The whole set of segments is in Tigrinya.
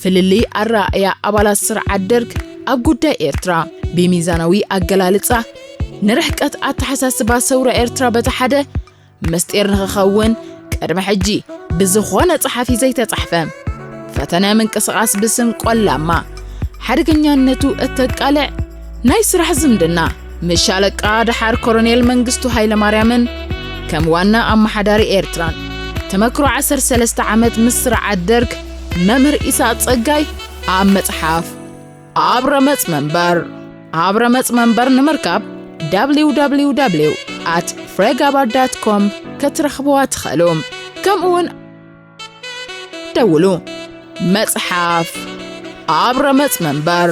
ፍልልይ ኣረኣእያ ኣባላት ስርዓት ደርግ ኣብ ጉዳይ ኤርትራ፣ ብሚዛናዊ ኣገላልጻ፣ ንርሕቀት ኣተሓሳስባ ሰውራ ኤርትራ በቲ ሓደ፣ ምስጢር ንኽኸውን፣ ቅድሚ ሕጂ ብዝኾነ ጸሓፊ ዘይተጻሕፈ፣ ፈተነ ምንቅስቓስ ብስም ቆላማ ሓደገኛነቱ እተቃልዕ ናይ ስራሕ ዝምድና፣ ምስ ሻለቃ ደሓር ኮሎኔል መንግስቱ ሃይለማርያምን ከም ዋና ኣመሓዳሪ ኤርትራን ተመክሮ 13 ዓመት ምስ ስርዓት ደርግ መምህር ኢሳቅ ጸጋይ ኣብ መጽሓፍ ኣብ ረመጽ መንበር ኣብ ረመጽ መንበር ንምርካብ www at ፍሬጋባር ዳት ኮም ከትረኽብዋ ትኸእሉ ከምኡውን ደውሉ መጽሓፍ ኣብ ረመጽ መንበር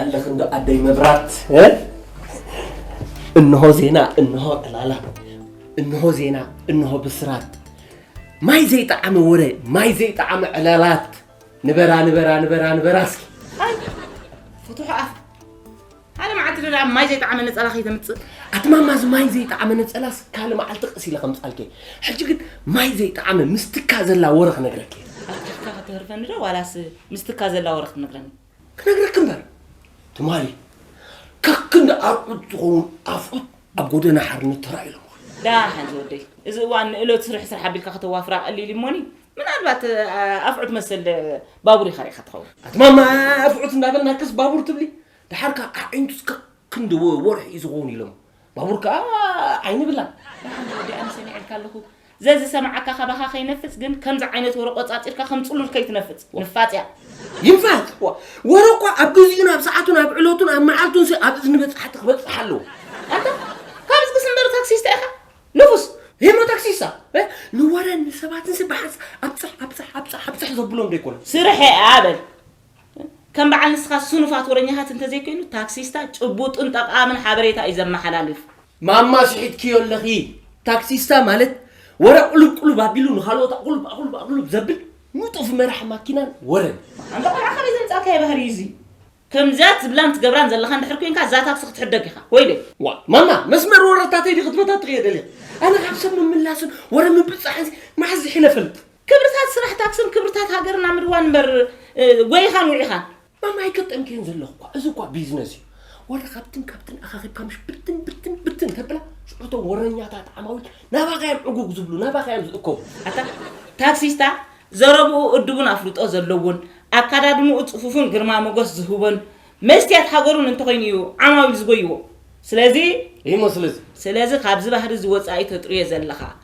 ኣለኽ እንዶ ኣደይ መብራት እንሆ ዜና እንሆ ዕላላ እንሆ ዜና እንሆ ብስራት ማይ ዘይጠዓመ ወረ ማይ ዘይጠዓመ ዕላላት ንበራ ንበራ ንበራ ንበራ እስኪ ፍቱሕ ኣፍ ሓደ መዓልቲ ደኣ ማይ ዘይጠዓመ ነፀላ ከይተምፅእ ኣትማማ እዚ ማይ ዘይጠዓመ ነፀላስ ካልእ መዓልቲ ቀስ ኢለ ከምፃልከ ሕጂ ግን ማይ ዘይጠዓመ ምስ ትካ ዘላ ወረ ክነግረኪ ኣፍካ ከተህርፈኒ ዶ ዋላስ ምስ ትካ ዘላ ወረ ክትነግረኒ። ክነግረኪ እምበር ትማሊ ከክንዲ ኣርዑት ዝኸውን ኣፍዑት ኣብ ጎደና ሓርነት ተራእዮም። ዳሓን ዝወደይ እዚ እዋን ንእሎት ስርሕ ስራሕ ኣቢልካ ከተዋፍራ ቀሊል እዩ እሞኒ ምናልባት ኣፍዑት መሰል ባቡር ኢኻ ርኢኻ ትኸውን ኣትማማ ኣፍዑት እንዳበልናክስ ባቡር ትብሊ ድሓርካ ኣዒንቱስ ከክንዲ ወርሒ እዩ ዝኸውን ኢሎም ባቡር ከኣ ኣይንብላን። ደሓን ዶ ወዲኣኒ ሰሚዐልካ ኣለኹ። ዘዚ ሰማዓካ ካባኻ ከይነፍጽ ግን ከምዚ ዓይነት ወረ ቆጻጺርካ ከም ጽሉል ከይትነፍጽ። ንፋጽ እያ። ይንፋጽ! ዋእ! ወረ እኳ ኣብ ግዚኡን ኣብ ሰዓቱን ኣብ ዕለቱን ኣብ መዓልቱንሲ ኣብ እዝኒ በጻሕቲ ክበጽሕ ኣለዎ። ኣንታ ካብዝግስ እምበር ታክሲስታ ኢኻ ንፉስ። ሄኖ ታክሲሳ እ ንወረን ንሰባትንሲ ብሓንሳእ ኣብጽሕ ኣብጽሕ ኣብጽሕ ኣብጽሕ ዘብሎም ዶ ኣይኮነን። ስርሐይ እያ በል። ከም በዓል ንስኻ ስኑፋት ወረኛታት እንተዘይኮይኑ ታክሲስታ ጭቡጥን ጠቓምን ሓበሬታ እዩ ዘመሓላልፍ። ማማ ስሒትክዮ ኣለኺ ታክሲስታ ማለት ወረ ቁሉብ ቁሉብ ኣቢሉ ንኻልኦት ኣቑሉብ ኣቑሉብ ኣቑሉብ ዘብል ንጡፍ መራሒ ማኪናን ወረን እዩ። ኣንታ ቆልዓ ካበይ ዘምጻእካዮ ባህሪ እዩ እዚ ከምዚያት ዝብላን ትገብራን ዘለኻ እንድሕር ኮንካ እዛ ታክሲ ክትሕደግ ኢኻ ወይለይ። ዋእ ማማ መስመር ወረታተይ ዲኺ ትበታትኽዮ ደሊኺ ኣነ ካብ ሰብ ምምላስን ወረ ምብጻሕንሲ መዓስ ዝሒነ እፈልጥ። ክብርታት ስራሕታት ስም ክብርታት ሃገርና ምድዋን እምበር ጎይኻን ውዒኻን። ማማ ኣይገጠምክዮን ዘለኹ እኳ እዚ እኳ ቢዝነስ እዩ ወላ ካብትን ካብትን ኣኻኺብካ ምሽ ብትን ብትን ብትን ተብላ ሽዑ እቶም ወረኛታት ዓማዊል ናባኻ እዮም ዕጉግ ዝብሉ ናባኻ እዮም ዝእከቡ ኣታ ታክሲስታ ዘረብኡ እዱብን ኣፍልጦ ዘለዎን ኣካዳድንኡ ጽፉፍን ግርማ ሞገስ ዝህቦን መስትያት ሃገሩን እንተኾይኑ እዩ ዓማዊል ዝጎይዎ ስለዚ እሞ ስለዚ ስለዚ ካብዚ ባህሪ እዚ ወጻኢ ተጥርዮ ዘለኻ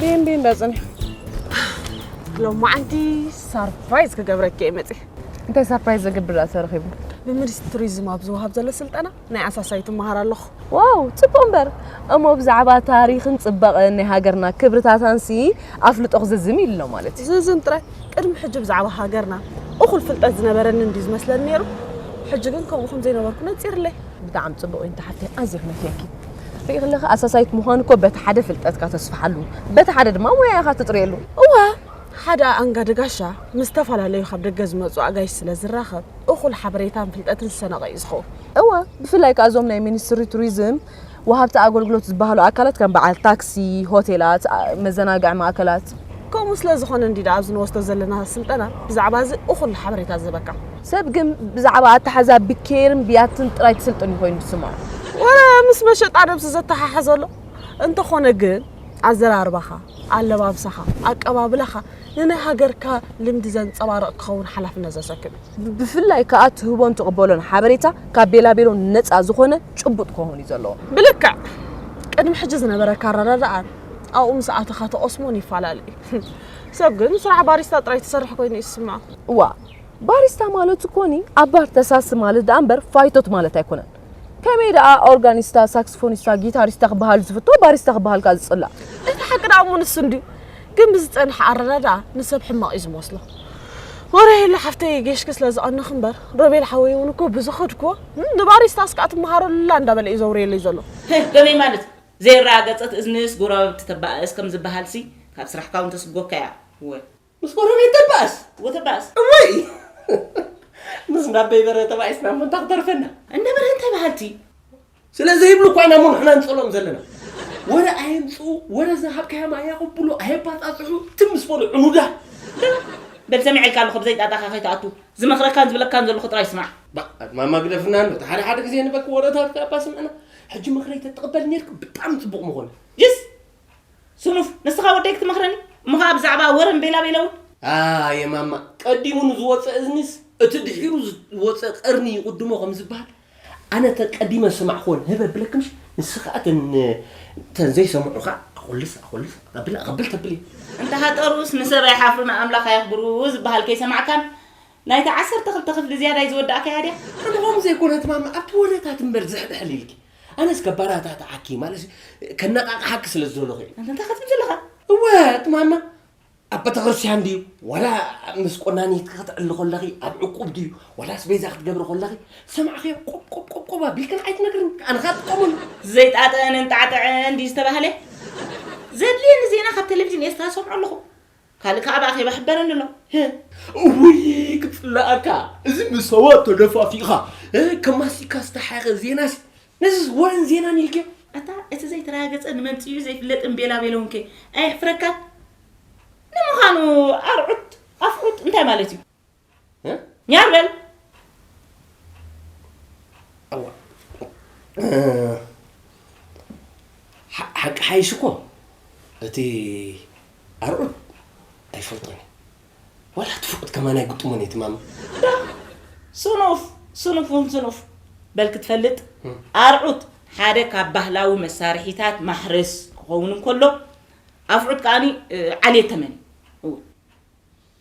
ቢንቢ እንዳፅነ ሎማዓንቲ ሳርፕራይዝ ክገብረኪ እየ መፅእ እንታይ ሳርፕራይዝ ዘግብር ተረኺቡ ብሚኒስትሪ ቱሪዝም ኣብ ዝወሃብ ዘሎ ስልጠና ናይ ኣሳሳዩ ትመሃር ኣለኹ ዋው ፅቡቅ እምበር እሞ ብዛዕባ ታሪክን ፅባቐን ናይ ሃገርና ክብርታታንሲ ኣፍልጦ ክዝዝም ኢሉ ኣሎ ማለት እዩ ዝዝም ጥራይ ቅድሚ ሕጂ ብዛዕባ ሃገርና እኹል ፍልጠት ዝነበረኒ እንድዩ ዝመስለኒ ነይሩ፣ ሕጂ ግን ከምኡ ከም ዘይነበርኩ ነጺርለይ። ብጣዕሚ ጽቡቕ እዩ ንተሓተይ ኣዝየ ክነፍየኪ። ርእኺ ኣለኺ ኣሳሳይት ምዃን እኮ በቲ ሓደ ፍልጠትካ ተስፍሓሉ በቲ ሓደ ድማ ሞያ ኢኻ ትጥርየሉ። እወ ሓደ ኣኣንጋዲ ጋሻ ምስ ዝተፈላለዩ ካብ ደገ ዝመጹ ኣጋይሽ ስለ ዝራኸብ እኹል ሓበሬታን ፍልጠትን ዝሰነቐ እዩ ዝኸውን። እወ ብፍላይ ከኣ እዞም ናይ ሚኒስትሪ ቱሪዝም ወሃብቲ ኣገልግሎት ዝበሃሉ ኣካላት ከም በዓል ታክሲ፣ ሆቴላት፣ መዘናግዒ ማእከላት። ከምኡ ስለ ዝኾነ እንዲዳ ኣብዚ ንወስዶ ዘለና ስልጠና ብዛዕባ እዚ እኹል ሓበሬታ ዝህበካ። ሰብ ግን ብዛዕባ ኣተሓሕዛ ብኬርን ብያትን ጥራይ ትስልጥን እዩ ኮይኑ ዝስምዖ። ወረ ምስ መሸጣ ነብሲ ዘተሓሕዞ ኣሎ። እንተኾነ ግን ኣዘራርባኻ፣ ኣለባብሳኻ፣ ኣቀባብላኻ ንናይ ሃገርካ ልምዲ ዘንጸባርቕ ክኸውን ሓላፍነት ዘሰክም እዩ። ብፍላይ ከኣ ትህቦን ትቕበሎን ሓበሬታ ካብ ቤላቤሎ ነጻ ዝኾነ ጭቡጥ ክኸውን እዩ ዘለዎ። ብልክዕ ቅድሚ ሕጂ ዝነበረካ ኣረዳድኣን ኣብኡ ምስ ኣተኻ ትቐስሞን ይፈላለ እዩ። ሰብ ግን ስራሕ ባሪስታ ጥራይ ትሰርሕ ኮይኑ እዩ ዝስምዖ። እዋ ባሪስታ ማለት እኮኒ ኣብ ባር ተሳሲ ማለት ደኣ እምበር ፋይቶት ማለት ኣይኮነን። ከመይ ደኣ ኦርጋኒስታ ሳክስፎኒስታ ጊታሪስታ ክበሃል ዝፍቶ ባሪስታ ክበሃል ከኣ ዝጽላእ እቲ ሓቂ ደኣ እሞ ንሱ እንድዩ ግን ብዝጸንሐ ኣረዳድኣ ንሰብ ሕማቕ እዩ ዝመስሎ ወረ ሄሉ ሓፍተይ ጌሽኪ ስለ ዝቐነኺ እምበር ሮቤል ሓወይ እውን እኮ ብዝኸድክዎ ንባሪስታስ ከኣ ትመሃረሉላ እንዳበለ እዩ ዘውርየለይ ዘሎ ከመይ ማለት ዘይረጋገጸት እዝንስ ጎረባብቲ ተባእስ ከም ዝበሃልሲ ካብ ስራሕካ እውን ተስጎካ እያ እወ። ምስ ጎረቤት ተባእስ ወተባእስ እወይ ምስ ናበይ በረ ተባኢስና እሞ እንታ ክተርፈና እንዳ በረ እንታይ በሃልቲ ስለ ዘይብሉ እኳ ኢና እሞ ንሕና ንጸሎም ዘለና ወረ ኣየምጽኡ ወረ ዝሃብካዮም ኣየቕብሉ ኣየባጻጽሑ ትም ምስ በሉ ዕኑዳ በል ሰሚዐልካ ኣለኹ ብዘይ ጣጣኻ ከይትኣቱ ዝመኽረካን ዝብለካን ዘለኹ ጥራይ ስማዕ ባእ ማማ ግደፍና ኣሎ እቲ ሓደ ሓደ ግዜ ንበክ ወረታትካ እባ ስምዕና ሕጂ ምኽረይ ተትቕበል ነይርክ ብጣዕሚ ጽቡቕ ምኾነ ጅስ ስኑፍ ንስኻ ወደይ ክትመኽረኒ እሞ ኸኣ ብዛዕባ ወረን ቤላቤለ ውን። ኣየ ማማ ቀዲሙ ንዝወጸ እዝኒስ እቲ ድሒሩ ዝወጸ ቀርኒ ይቕድሞ ከም ዝበሃል ኣነ እተን ቀዲመ ዝሰማዕክወን ህብ ኣብለኪ እምሽ ንስኺ ከኣ እተን እተን ዘይሰምዑኻ ኣኹልስ ኣኹልስ ኣቐብል ኣቐብል ተብሊ። እንተሃጠሩስ ንሰብ ኣይሓፍሩ ንኣምላኽ ኣየኽብሩ ዝበሃል ከይሰማዕካን ናይታ ዓሰርተ ክልተ ክፍሊ ዝያዳይ ዝወዳእካያ ድያ? ከምኦም ዘይኮነት ማማ ኣብቲ ወረታት እምበር ዝሕብሕብ ኢልኪ ኣነ እስከ ባራታትዓኪ ማለት ከነቃቅሓኪ ስለ ዝደለኹ እዩ እንታይ ክትብል ዘለኻ እወ ትማማ ኣብ ቤተክርስትያን ድዩ ዋላ ምስ ቆናኒትኪ ክትዕሊ ኮለኺ ኣብ ዕቁብ ድዩ ዋላ ኣስቤዛ ክትገብሪ ኮለኺ ሰማዕክዮ ቆብ ቆብ ቆብ ቆብ ኣቢልክን ኣይትነግርን ኣነ ካብ ትጠሙን ዘይጣጥዕን እንጣዕጥዕን ድዩ ዝተባህለ ዘድልየኒ ዜና ካብ ቴሌቭዥን ኤርትራ ሰምዖ ኣለኹ ካልእ ከኣ ብኣኼባ ሕበረኒ ኣሎ ህህ። እውይ ክጽላኣካ እዚ ምስ ሰባት ተደፋፊእኻ ከም ማስቲካ ዝተሓኸ ዜናሲ ነዚስ ወረን ዜናን ኢልክዮ። ኣታ እቲ ዘይተራገጸን መምጺኡ ዘይፍለጥን ቤላቤሎውንከ ኣየሕፍረካን? ንምዃኑ ኣርዑት ኣፍዑት እንታይ ማለት እዩ? ኛር በል ሓቂ ሓይሽ እኮ እቲ ኣርዑት ኣይፈልጦን እዩ ዋላ እቲ ፍቁት ከማን ኣይግጥሞን እዩ ትማም ስኑፍ ስኑፍ እውን ስኑፍ በል ክትፈልጥ ኣርዑት ሓደ ካብ ባህላዊ መሳርሒታት ማሕረስ ክኸውን እንከሎ ኣፍዑት ከዓኒ ዓልየ ተመን እዩ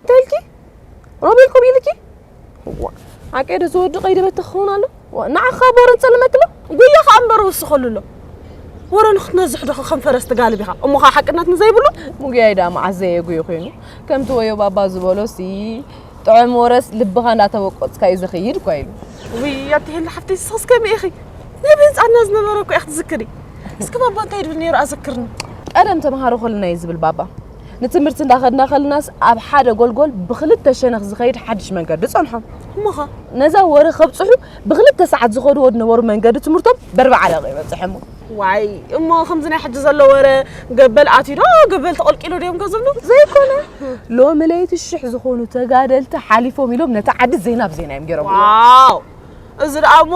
እንታይ ኢልኪ ሮቤል ከምኡ ኢልኪ ዓቀደ ዝወዱ ቀይዲ በት ክኸውን ኣሎ ንዓኻ ቦረ ንጸልመክሎ ጉያ ከዓ እምበር ወስኸሉ ኣሎ ወረ ንክትነዝሕ ዶ ከም ፈረስ ትጋልብ ኢኻ እሞ ከዓ ሓቅነት ንዘይብሉ ሙጉያይ ዳ መዓዝ ዘየጉዩ ኮይኑ ከምቲ ወዮ ባባ ዝበሎ ሲ ጥዑም ወረስ ልብኻ እንዳተበቆፅካ እዩ ዝኽይድ እኳ ኢሉ ውይ ኣትህሊ ሓፍቲ ስኽስ ከመይ ኢኺ ናይ ብህፃና ዝነበረ እኮ ኢኺ ትዝክሪ እስኪ ባባ እንታይ ይብል ነይሩ ኣዘክርኒ ቀደም ተምሃሮ ከለና እዩ ዝብል ባባ ንትምህርቲ እንዳኸድና ከለናስ ኣብ ሓደ ጎልጎል ብክልተ ሸነኽ ዝኸይድ ሓድሽ መንገዲ ጸንሖም። እሞኸ ነዛ ወረ ከብጽሑ ብክልተ ሰዓት ዝኸድዎ ዝነበሩ መንገዲ ትምህርቶም በርብዓ ደቂቕ ይበጽሕሞ። ዋይ እሞ ከምዚ ናይ ሕጂ ዘሎ ወረ ገበል ኣትዩ ዶ ገበል ተቐልቂሉ ድዮም ከ ዝብሉ ዘይኮነ ሎሚ ለይቲ ሽሕ ዝኾኑ ተጋደልቲ ሓሊፎም ኢሎም ነታ ዓዲ ዜና ብዜና እዮም ገይሮምዋ። ዋው እዚ ደኣ እሞ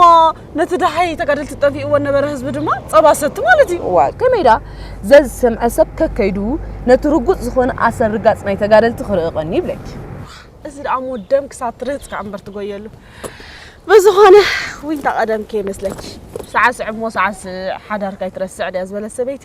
ነቲ ደሃይ ተጋደልቲ ጠፊእዎ ነበረ ህዝቢ ድማ ጸባ ሰቲ ማለት እዩ። እዋ ከመይ ደኣ ዘዝሰምዐ ሰብ ከከይዱ ነቲ ርጉጽ ዝኾነ ኣሰርጋጽ ናይ ተጋደልቲ ክርኢ ቐንዩ ይብለኪ። እዚ ደኣ እሞ ደም ክሳብ ትርህጽ ከኣ እምበር ትጎየሉ። ብዝኾነ ዊንታ ቐደም ከይመስለኪ ሳዕስዕ እሞ ሳዕስዕ ሓዳርካ ኣይትረስዕ ድያ ዝበለት ሰበይቲ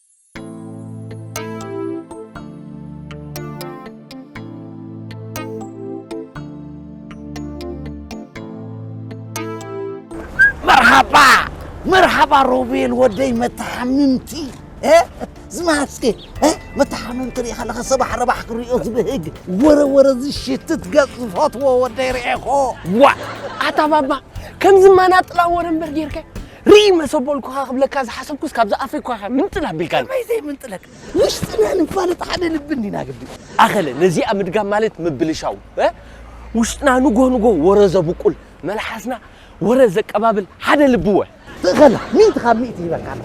መርሓባ መርሓባ ሮቤል ወደይ መተሓምምቲ እ? ዝመሃዝኪ እ? መተሓምምቲ ርኢ ከለኸ ሰባሕ ረባሕ ክሪኦ ዝብህግ ወረወረ ዝሽትት ገጽ ዝፈትዎ ወደይ ርኤኹ ዋ ኣታ ባባ ከምዚ መናጥላ ወረ እምበር ጌርካ ርእይ መሰቦልኩኻ ክብለካ ዝሓሰብኩስ ካብዛ ኣፈይ ኳኻ ምንጥል ኣቢልካኒ። ከመይ ዘይምንጥለክ ውሽጥና ንፋለጥ ሓደ ልቢ እንዲና ግዲ። ኣኸለ ነዚኣ ምድጋም ማለት ምብልሻው እ ውሽጥና ንጎ ንጎ ወረ ዘብቁል መልሓስና ወረ ዘቀባብል ሓደ ልቢ ወ ትእኸላ ሚእቲ ካብ ሚእቲ ይበካ ኣሎ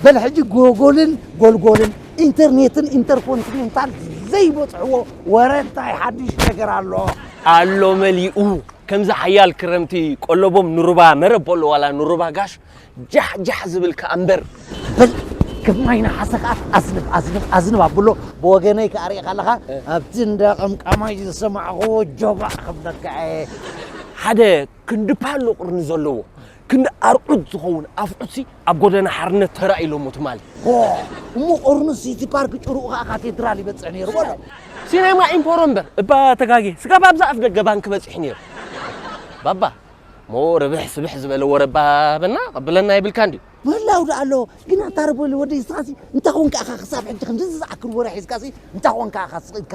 በል ሕጂ ጎጎልን ጎልጎልን ኢንተርኔትን ኢንተርኮንቲኔንታል ዘይበፅሕዎ ወረ እንታይ ሓድሽ ነገር ኣሎ ኣሎ መሊኡ ከምዚ ሓያል ክረምቲ ቆሎቦም ንሩባ መረብ ቦሎ ዋላ ንሩባ ጋሽ ጃሕ ጃሕ ዝብል ከኣ እምበር በል ከም ማይ ነሓሰ ከኣ ኣዝንብ ኣዝንብ ኣዝንብ ኣብሎ ብወገነይ ከኣ ርኢኻ ኣለኻ ኣብቲ እንዳ ቀምቃማይ ዝሰማዕኽዎ ጆባእ ክብለካ እየ ሓደ ክንዲ ፓሎ ቅርኒ ዘለዎ ክንዲ ኣርዑት ዝኸውን ኣፍዑትሲ ኣብ ጎደና ሓርነት ተራእዩሎሞ ትማሊ። ሆህ! እሞ ኦርኑስ ሲቲ ፓርክ ጭርኡ ከኣ ካቴድራል ይበጽሕ ነይሩ በሎ። ሲነማ ኢምፖሮ እምበር እባ ተጋግየ፣ ስጋብ ኣብዛ ኣፍደገ ባንኪ በጺሑ ነይሩ። ባባ እሞ ርብሕ ስብሕ ዝበለ ወረ እባ በና ቀብለና የብልካን ድዩ? ምህላው ደኣ ኣሎ፣ ግን ኣታ ርብሊ ወደይ እስኻሲ እንታይ ኮንካ ኢኻ ክሳብ ሕጂ ክንድዚ ዝኣክል ወረ ሒዝካሲ እንታይ ኮንካ ኢኻ ስቕ ኢልካ?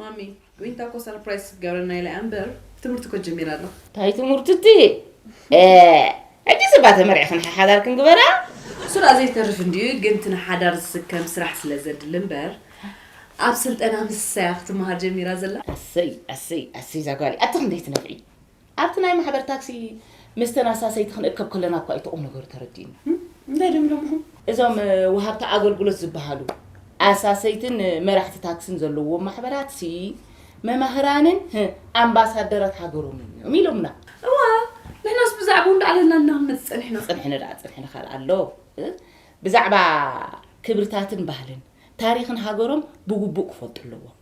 ማሚ ዊንታ እኮ ሰርፕራይዝ ክትገብረና ኢላ እምበር ትምህርቲ እኮ ጀሚራ ኣላ እንታይ ትምህርቲ እቲ ሕጂ ስባ ተመሪዕክን ሓሓዳር ክንግበራ ስራ ዘይተርፍ እንድዩ ግን እቲ ንሓዳር ዝስከም ስራሕ ስለ ዘድሊ እምበር ኣብ ስልጠና ምስሳያ ክትመሃር ጀሚራ ዘላ ኣሰይ ኣሰይ ኣሰይ ዛጓሊ ኣቲ ክንደይ ትነፍዒ ኣብቲ ናይ ማሕበር ታክሲ ምስተን ኣሳሰይቲ ክንእከብ ከለና እኳ እዩ እቲ ቁም ነገሩ ተረዲኡና። እንታይ ድዮም ኢሎም እኹም? እዞም ወሃብቲ ኣገልግሎት ዝበሃሉ፣ ኣሳሰይትን መራሕቲ ታክስን ዘለዉዎም ማሕበራትሲ፣ መማህራንን ህ ኣምባሳደራት ሃገሮምን እዮም ኢሎምና። እወ፣ ንሕናስ ብዛዕብኡ እንዳዕለልና ኢና ክንመጽእ ጸኒሕና። ጽንሕኒ ደኣ ጽንሕኒ ካልእ ኣሎ። ብዛዕባ ክብርታትን ባህልን ታሪኽን ሃገሮም ብግቡእ ክፈልጡ ኣለዎም።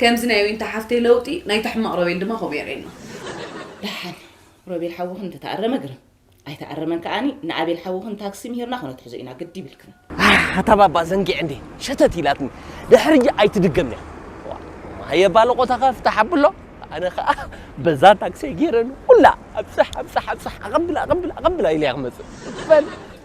ከምዚ ናይ ዊንታ ሓፍተይ ለውጢ ናይታ ሕማቅ ሮቤል ድማ ከምኡ የርእየና። ደሓን ሮቤል ሓውኽን እንተተኣረመ ግርም ኣይተኣረመን ከኣኒ ንኣቤል ሓውኽን ታክሲ ምሂርና ክነትሕዞ ኢና ግዲ ይብልክን። ኣሕ ኣታ ባባ ዘንጊዐ እንድየ ሸተት ኢላትኒ ድሕርይ ኣይትድገምያ። ማየ ባለቆታካ ፍታሕ ኣብሎ ኣነ ከኣ በዛ ታክሲይ ጌረ ንኩላ ኣብጽሕ ኣብጽሕ ኣብጽሕ ኣቀብል ኣቀብል ኣቀብል ኢለያ ክመጽእ። በል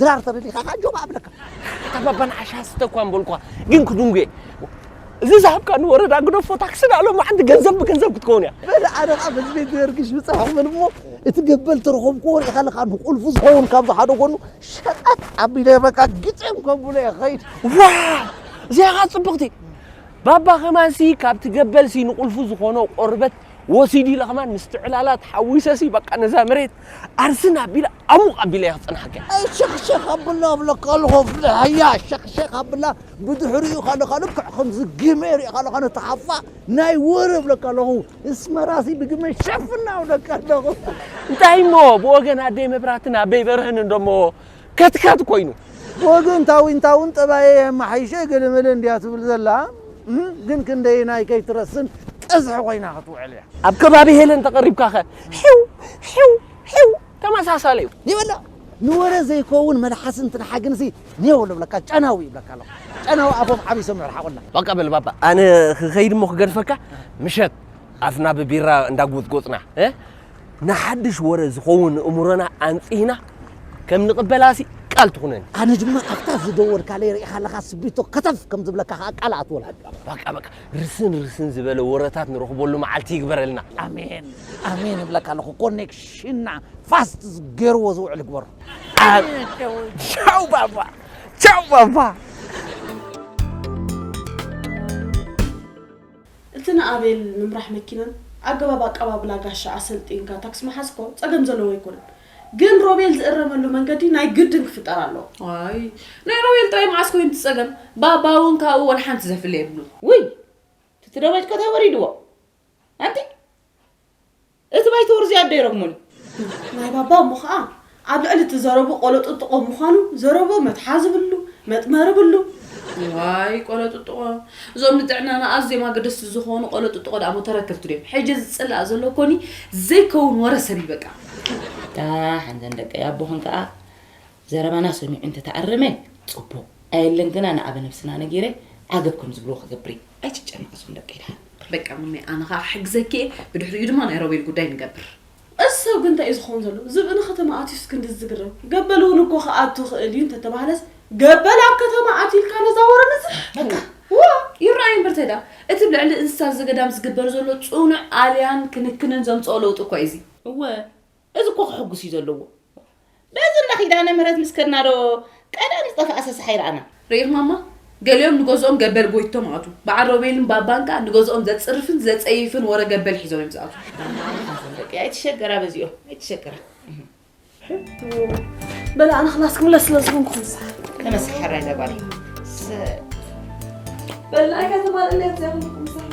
ድራር ተብቢካ ከኣ ጆባ ኣብለካ። ኣታ ባባ ንዓሻ ስተ እኳ ምበልኩኻ ግን ክድንጉየ እዚ ዝሃብካኒ ወረዳ ግደፎ ታክሲ ንኣ ሎማዓንቲ ገንዘብ ብገንዘብ ክትከውን እያ። በለ ኣነ ከኣ በዚ ቤት ደርጊ ሽብጻ ክብል እሞ እቲ ገበል ተረኸብክዎ ርኢኻ ኣለካ ንቁልፉ ዝኸውን ካብዚ ሓደ ጎኑ ሸቀጥ ኣቢለ በቃ ግጥም ከብሎ እየ ክኸይድ። ዋው እዚኣ ከኣ ጽብቕቲ ባባ ከማንሲ ካብቲ ገበልሲ ንቁልፉ ዝኾኖ ቆርበት ወሲዲ ኢለ ከማን ምስቲ ዕላላት ሓዊሰሲ በቃ ነዛ መሬት ኣርስን ኣቢለ ኣሙቕ ኣቢለ እየ ክጸንሓካ። ኣይ ሸኽሸኽ ኣብላ እብለካ ኣለኹ ፍልሕያ ሸኽሸኽ ኣብላ ብድሕሪኡ ከለኻ ልክዕ ከምዚ ግመ ሪኤካ ኣለኻ ነቲ ሓፋ ናይ ወረ እብለካ ኣለኹ እስመራሲ ብግመ ሸፍና እብለካ ኣለኹ። እንታይ እሞ ብወገን ኣደይ መብራህትን ኣበይ በርህን እንዶ እሞ ከትከት ኮይኑ ብወገን ታዊንታውን ጠባየይ ኣመሓይሸ ገለመለ እንድያ ትብል ዘላ እም ግን ክንደየናይ ከይትረስን ቀዝሒ ኮይና ክትውዕል እያ። ኣብ ከባቢ ሄለን ተቐሪብካ ከ ሒው ሒው ሒው ተመሳሳሊ እዩ። ይበላ ንወረ ዘይከውን መልሓስ እንትንሓ ግንሲ ኔው ልብለካ ጨናዊ ይብለካ ኣለኹ ጨናዊ ኣፎም ዓቢሶም ይርሓቑልና። በቃ በል ባባ ኣነ ክኸይድ እሞ ክገድፈካ ምሸት ኣፍና ብቢራ እንዳጎጽጎጽና እ ንሓድሽ ወረ ዝኸውን እእምሮና ኣንጺህና ከም ንቕበላሲ ቃል ትኹነኒ። ኣነ ድማ ኣብታ ዝደወልካለይ ርኢኻ ኣለኻ ስቢቶ ከተፍ ከም ዝብለካ ከኣ ቃል እኣትወልካ። በቃ በቃ ርስን ርስን ዝበለ ወረታት ንረኽበሉ መዓልቲ ይግበረልና። ኣሜን ኣሜን እብለካ ኣለኹ። ኮኔክሽንና ፋስት ገይርዎ ዝውዕል ይግበሮ። ቻው ባባ ቻው ባባ እቲ ንኣቤል ምምራሕ መኪናን ኣገባብ ኣቀባብላ ጋሻ ኣሰልጢንካ ታክሲ ምሓዝ እኮ ጸገም ዘለዎ ኣይኮነን ግን ሮቤል ዝእረመሉ መንገዲ ናይ ግድን ክፍጠር ኣለዎ። ዋይ ናይ ሮቤል ጥራይ መዓስ ኮይኑ እቲ ጸገም ባባ ውን ካብኡ ወላ ሓንቲ ዘፍሊ የብሉን። ውይ ትቲ ዶበጭ ኮታ ወሪድዎ ኣንቲ እቲ ባይተወር እዚ ኣደይ ረግሞን እዩ። ናይ ባባ እሞ ኸኣ ኣብ ልዕሊ እቲ ዘረብኡ ቆሎጥጥቖ ምዃኑ ዘረብኡ መትሓዚ ብሉ፣ መጥመሪ ብሉ። እዋይ ቆሎጥጥቖ! እዞም ንጥዕናና ኣዝዮም ኣገደስቲ ዝኾኑ ቆሎጥጥቖ ደኣሞ ተረከብቲ ድዮም? ሕጂ ዝጽላእ ዘሎ ኮኒ ዘይከውን ወረ ሰብ እዩ በቃ። ኣታ ሓንተን ደቀይ ኣቦኽን ከኣ ዘረባና ሰሚዑ እንተ ተኣረመ ጽቡቅ ኣየለን ግና ንኣበ ነብስና ነጊረ ዓገብ ከም ዝብልዎ ክገብር እየ ኣይትጨነቅ እዞም ደቀይ ድሓን። በቃ ሙነይ ኣነ ከኣ ክሕግዘኪ እየ ብድሕሪኡ ድማ ናይ ሮቤል ጉዳይ ንገብር። እዚ ሰብ ግን እንታይ እዩ ዝኸውን ዘሎ ዝብኢ ንከተማ ኣትዩስ ክንድዚ ዝግረም ገበል እውን እኮ ክኣቱ ይኽእል እዩ እንተተባህለስ ገበል ኣብ ከተማ ኣትዩ ኢልካ ነዛ ወረ ምዝሕ በቃ ዋእ ይረኣይ እምበር ተይዳ እቲ ብ ልዕሊ እንስሳ ዘገዳም ዝግበር ዘሎ ጽኑዕ ኣልያን ክንክንን ዘምጽኦ ለውጢ እኳ እዩ እዚ። እወ እዚ እኮ ከሕጉስ እዩ ዘለዎ በዚ እንዳ ኪዳነ ምህረት ምስ ከድና ዶ ቀደም ዝጠፈኣ ሰሰሓይ ረኣና። ርኢኽማማ ገሊኦም ንገዝኦም ገበል ጎይቶም ኣቱ በዓል ሮቤልን ባባን ከኣ ንገዝኦም ዘጽርፍን ዘጸይፍን ወረ ገበል ሒዞም እዮም ዝኣትዉ። ኣንታ ደቂ ኣይትሸገራ በዚኦም ኣይትሸገራ። ሕቶ በለ ኣነ ክላስ ክምለስ ስለ ዝኾንኩ ክንሳሕ ተመስኪ ሕራይ እዛ ጓለይ በላይካ ተማልእለያ እዚኣ ክንሳሕ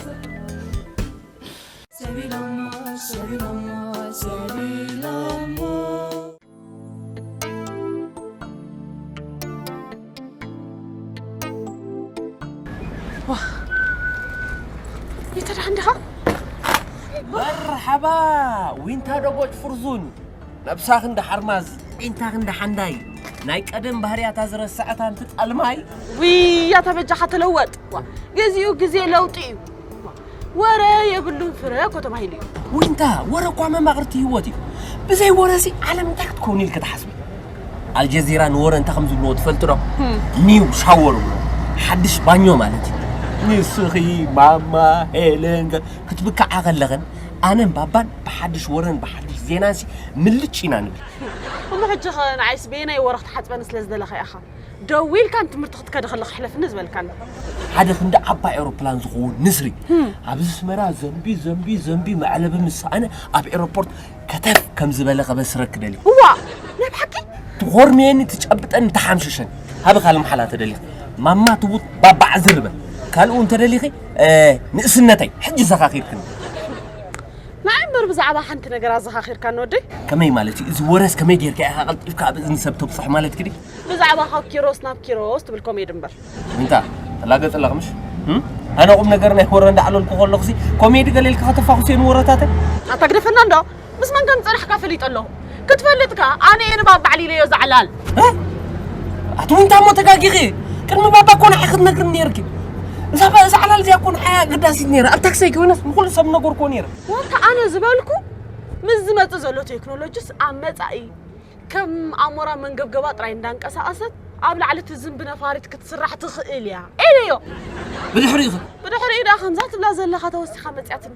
መርሓባ ዊንታ ደቦጭ ፍርዙን ነብሳ ክንዲ ሓርማዝ ዒንታ ክንዲ ሓንዳይ ናይ ቀደም ባህርያታ ዝረስዐት ኣንቲ ጣልማይ ውይ ኣታ በጃኻ ተለወጥ ዋ፣ ግዚኡ ግዜ ለውጢ እዩ ወረ የብሉን ፍረ እኮ ተባሂሉ እዩ ወይንታ ወረ እኳ መማቕርቲ ህይወት እዩ ብዘይ ወረሲ ዓለም እንታይ ክትከውን ኢልክ ትሓስቢ ኣልጀዚራ ንወረ እንታይ ከም ዝብልዎ ትፈልጡ ዶ ኒው ሻወር ብሎ ሓድሽ ባኞ ማለት እዩ ንስኺ ማማ ሄለን ገ- ክትብክዓ ከለኽን ኣነን ባባን ብሓድሽ ወረን ብሓድሽ ዜናንሲ ምልጭ ኢና ንብል እሞ ሕጂ ኸ ንዓይስ በየናይ ወረ ክትሓፅበኒ ስለ ዝደለኻ ኢኻ ደው ኢልካ ንትምህርቲ ክትከደ ከለካ ሕለፍኒ ዝበልካኒ ሓደ ክንዲ ዓባይ ኤሮፕላን ዝኸውን ንስሪ ኣብዚ ስመራ ዘንቢ ዘንቢ ዘንቢ መዕለቢ ምስ ሰኣነ ኣብ ኤሮፖርት ከተፍ ከም ዝበለ ከበስረክ ደልዩ እዋ ናይ ብሓቂ ትኾርምየኒ ትጨብጠኒ ተሓምሽሸኒ ሃበ ካልእ መሓላ ተደሊኺ ማማ ትቡት ባባዕ ዝርበ ካልኡ እንተደሊኺ ንእስነተይ ሕጂ ዘኻኺርክኒ ንዓይ እምበር ብዛዕባ ሓንቲ ነገር ኣዘኻኺርካኒ ወደይ። ከመይ ማለት እዩ? እዚ ወረስ ከመይ ጌርካ ኢኻ ቀልጢፍካ ኣብ እዝኒ ሰብ ተብጽሖ ማለትኪ ድዩ? ብዛዕባ ካብ ኪሮስ ናብ ኪሮስ ትብል ኮሜዲ እምበር። እንታ ተላገጽ ኣለኺ ምሽ? እም? ኣነ ቁም ነገር ናይ ወረ እንዳዕለልኩ ከለኹሲ ኮሜዲ ገለ ኢልኪ ከተፋኹስዮ ንወረታተይ? ኣታ ግደፈና እንዶ ምስ መን ከም ዝጸናሕካ ፈሊጠ ኣለኹ። ክትፈልጥ ከኣ ኣነ እየ ንባብ ባዕሊ ኢለዮ እዛ ዕላል። እ ኣቲ ዊንታ እሞ ተጋጊኺ ቅድሚ ባባ እኮ ንዓኺ ትነግርኒ ኔርኪ እዛ ባ- እዛ ዕላል እዚኣ እኮ ንዓይ ኣገዳሲት ኔራ ኣብ ታክሰይ ኮይነስ ንኹሉ ሰብ ነገርክዎ ኔረ ወታ ኣነ ዝበልኩ ምስ ዝመጽእ ዘሎ ቴክኖሎጂስ ኣብ መጻኢ ከም ኣሞራ መንገብገባ ጥራይ እንዳንቀሳቐሰት ኣብ ላዕሊ ትዝንቢ ነፋሪት ክትስራሕ ትኽእል እያ ኢለዮ ብድሕሪኡ ከ ብድሕሪኡ ደኣ ከምዛ ትብላ ዘለኻ ተወሲኻ መጽያትኒ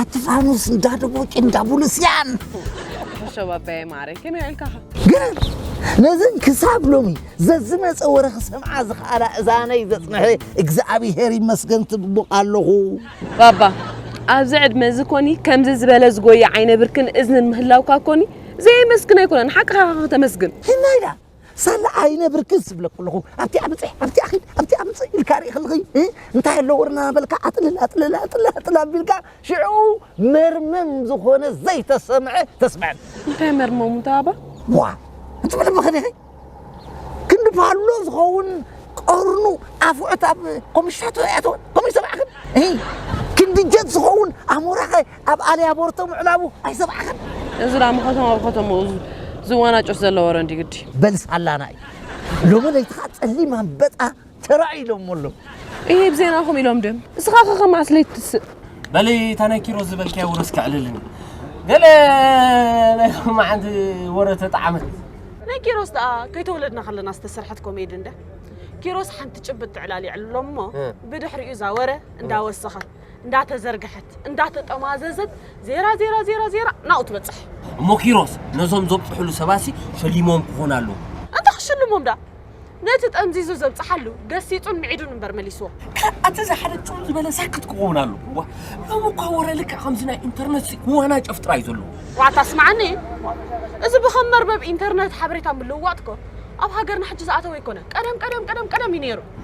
ኣቲ ፋኑስ እንዳ ደቦቂ እንዳ ቡሉስያን ተሸባበየ ማረ ከመይ ውዒልካ ኸ ግን ነዘን ክሳብ ሎሚ ዘዝመፀ ወረ ክሰምዓ ዝኸኣላ እዛነይ ዘፅንሐ እግዚኣብሄር ይመስገን ትብቡቕ ኣለኹ ባባ ኣብዚ ዕድመ እዚ ኮኒ ከምዚ ዝበለ ዝጎየ ዓይነ ብርክን እዝንን ምህላውካ ኮኒ ዘየመስግን ኣይኮነን ሓቅኻ ከተመስግን እና ኢላ ሳላ ዓይነ ብርክስ ዝብለኩ ኣለኹ ኣብቲኣ ብፅሕ ኣብቲኣ ኺድ ኣብቲኣ ምፅእ ኢልካ ርኢ ከለኺ እ፣ እንታይ ኣሎ ወርና በልካ ኣጥልል ኣጥልል ኣጥልል ኣጥልል ኣቢልካ ሽዑ መርመም ዝኾነ ዘይተሰምዐ ተስምዐን እንታይ መርመሙ እንታይ ኣባ ዋ እትብል ምኽን ኢኺ ክንዲ ፓሎ ዝኸውን ቀርኑ ኣፍዑት ኣብ ኮሚሽናቶ ይኣተወን ኮሚሽ ሰማዕኽን እ፣ ክንዲ ጀት ዝኸውን ኣሞራኸ ኣብ ኣልያ ቦርቶ ምዕላቡ ኣይሰምዕኻን? እዚ ደኣ ከተማ ብከተማኡ ዝዋናጨፍ ዘሎ ወረ እንድዩ ግዲ። በል ሳላና እዩ ሎሚ ለይቲ ከኣ ጸሊም ኣምበጣ ተራእዩ ኢሎሞ ኣለዉ። እሂ ብዜናኹም ኢሎም ድም እስኻ ከ ከመዓስ ለይቲ ትስእ? በሊ እታ ናይ ኪሮስ ዝበልክያ ወረስ ከዕልልኒ ገለ ናይ ሎማዓንቲ ወረ ተጣዓመት። ናይ ኪሮስ ደኣ ከይተወለድና ከለና ዝተሰርሐት ኮሜዲ እንድያ። ኪሮስ ሓንቲ ጭብጢ ዕላል የዕልሎ እሞ ብድሕሪኡ እዛ ወረ እንዳወሰኸ። እንዳተዘርግሐት እንዳተጠማዘዘት ዜራ ዜራ ዜራ ዜራ ናብኡ ትበጽሕ። እሞ ኪሮስ ነዞም ዘብጽሕሉ ሰባሲ ሸሊሞም ክኾኑ ኣለዎ። እንተ ክሽልሞም ደኣ ነቲ ጠምዚዙ ዘብጽሓሉ ገሲጹን ምዒዱን እምበር መሊስዎ። እቲ ዝሓደ ጽም ዝበለ ሳክት ክኸውን ኣለዎ። እዋ ሎሚ እኳ ወረ ልክዕ ከምዚ ናይ ኢንተርነት ክዋናጨፍ ጥራይ ዘለዎ። ዋታ ኣስምዓኒ እዚ ብከም መርበብ ኢንተርነት ሓበሬታ ምልውዋጥ እኮ ኣብ ሃገርና ሕጂ ዝኣተወ ኣይኮነን። ቀደም ቀደም ቀደም ቀደም እዩ ነይሩ።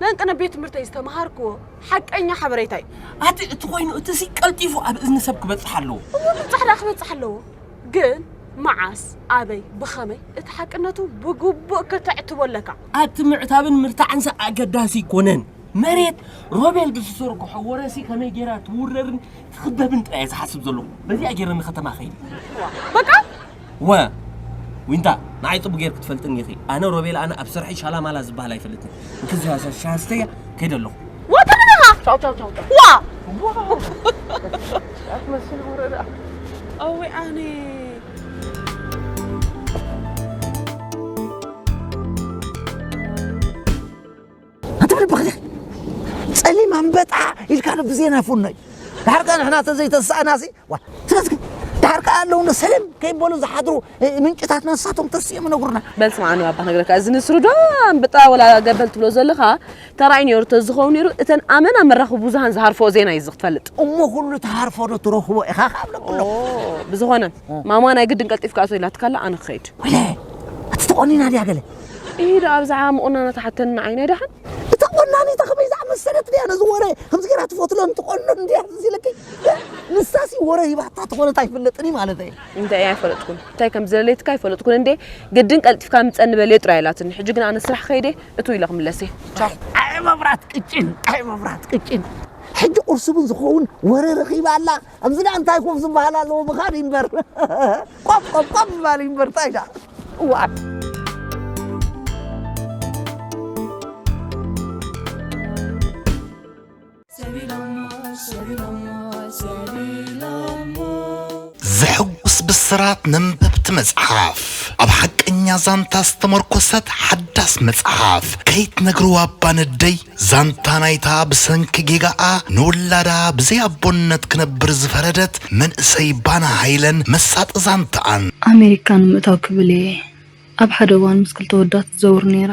ነንቅነ ቤት ትምህርተይ ዝተምሃርክዎ ሓቀኛ ሓበሬታ እዩ። ኣቲ እቲ ኮይኑ እቲ ሲ ቀልጢፉ ኣብ እዝኒ ሰብ ክበጽሕ ኣለዎ። እሞ ብጻሕዳ ክበጽሕ ኣለዎ ግን መዓስ ኣበይ ብኸመይ እቲ ሓቅነቱ ብግቡእ ከተዕትቦ ኣለካ። ኣቲ ምዕታብን ምርታዕን ሲ ኣገዳሲ ኣይኮነን። መሬት ሮቤል ብዝዘርግሖ ወረ ሲ ከመይ ጌራ ትውረርን ትኽበብን ጥራይ እየ ዝሓስብ ዘለኹ። በዚኣ ጌረ ንከተማ ከይድ። በቃ እወ ዊንታ ንዓይ ጽቡቅ ጌርኪ ትፈልጥኒ ኢኺ ኣነ ሮቤል ኣነ ኣብ ስርሐይ ሻላማላ ዝበሃል ኣይፈልጥን ንክዚ ሃሳስ ሻሃስተያ ከይደ ኣለኹ ዋ ተምንኻ ቻው ቻው ቻው ቻው ዋ ኣትመስል ወረዳ ኣወይ ኣነ ኣንተ ብክደ ጸሊም ኣንበጣ ኢልካ ዶ ብዜና ፍኖይ ድሓር ከኣ ንሕና ተዘይተሳእናሲ ስለዚ ድሓር ከኣ ኣለዉ ሰለም ከይበሉ ዝሓድሩ ምንጭታትና ንሳቶም ተስኦም ነግሩና በል ስምዓኒ ባባ ነገረካ እዚ ንስሩ ዶ ኣንበጣ ወላ ገበል ትብሎ ዘለኻ ተራእዩ ነይሩ ተዝኸውን ነይሩ እተን ኣመና መራኽቢ ብዙሃን ዝሃርፈኦ ዜና እዩ እዚ ክትፈልጥ እሞ ኩሉ ተሃርፎ ዶ ትረኽቦ ኢኻ ካብ ለብሎ ብዝኾነ ማማ ናይ ግድን ቀልጢፍካ ኣቶ ኢላትካላ ኣነ ክኸይድ እቲ ተቖኒና ድያ ገለ እሂ ደኣ ኣብዝሓ ምቑናና ትሓተኒ ዓይነይ ደሓን። እታ ቆናኒት ከመይ ዝኣመሰለት ድያ ነዚ ወረ ከምዚ ገይራ ትፈትሎ እንትቆኑ እንድያ ትዝ ኢለኪ ንሳሲ ወረ ሂባታ ተኾነት ኣይፍለጥን እዩ ማለት እዩ እንታይ እየ ኣይፈለጥኩን እንታይ ከም ዝደለይትካ ኣይፈለጥኩን እንዴ ግድን ቀልጢፍካ ምፀኒ በልየ ጥራይ ኢላትኒ ሕጂ ግን ኣነ ስራሕ ከይደ እቱ ኢለ ክምለስ እየ ቻው ኣይ መብራት ቅጭን ኣይ መብራት ቅጭን ሕጂ ቁርሲ እውን ዝኸውን ወረ ረኺባ ኣላ ኣብዚ ዳኣ እንታይ ኮፍ ዝበሃል ኣለዎ ምኻድ ኢንበር ቆፍ ቆፍ ቆፍ ዝበሃል ኢንበር እንታይ ዳኣ እዋእ ዘሕጉስ ብስራት ነንበብቲ መጽሓፍ ኣብ ሓቀኛ ዛንታ ዝተመርኮሰት ሓዳስ መጽሓፍ ከይትነግርዋ ባነደይ ዛንታ ናይታ ብሰንኪ ጌጋኣ ንውላዳ ብዘይ ኣቦነት ክነብር ዝፈረደት መንእሰይ ባና ሃይለን መሳጢ ዛንታኣን። ኣመሪካ ንምእታው ክብል እየ ኣብ ሓደ እዋን ምስ ክልተ ወዳት ዝዘውር ነይረ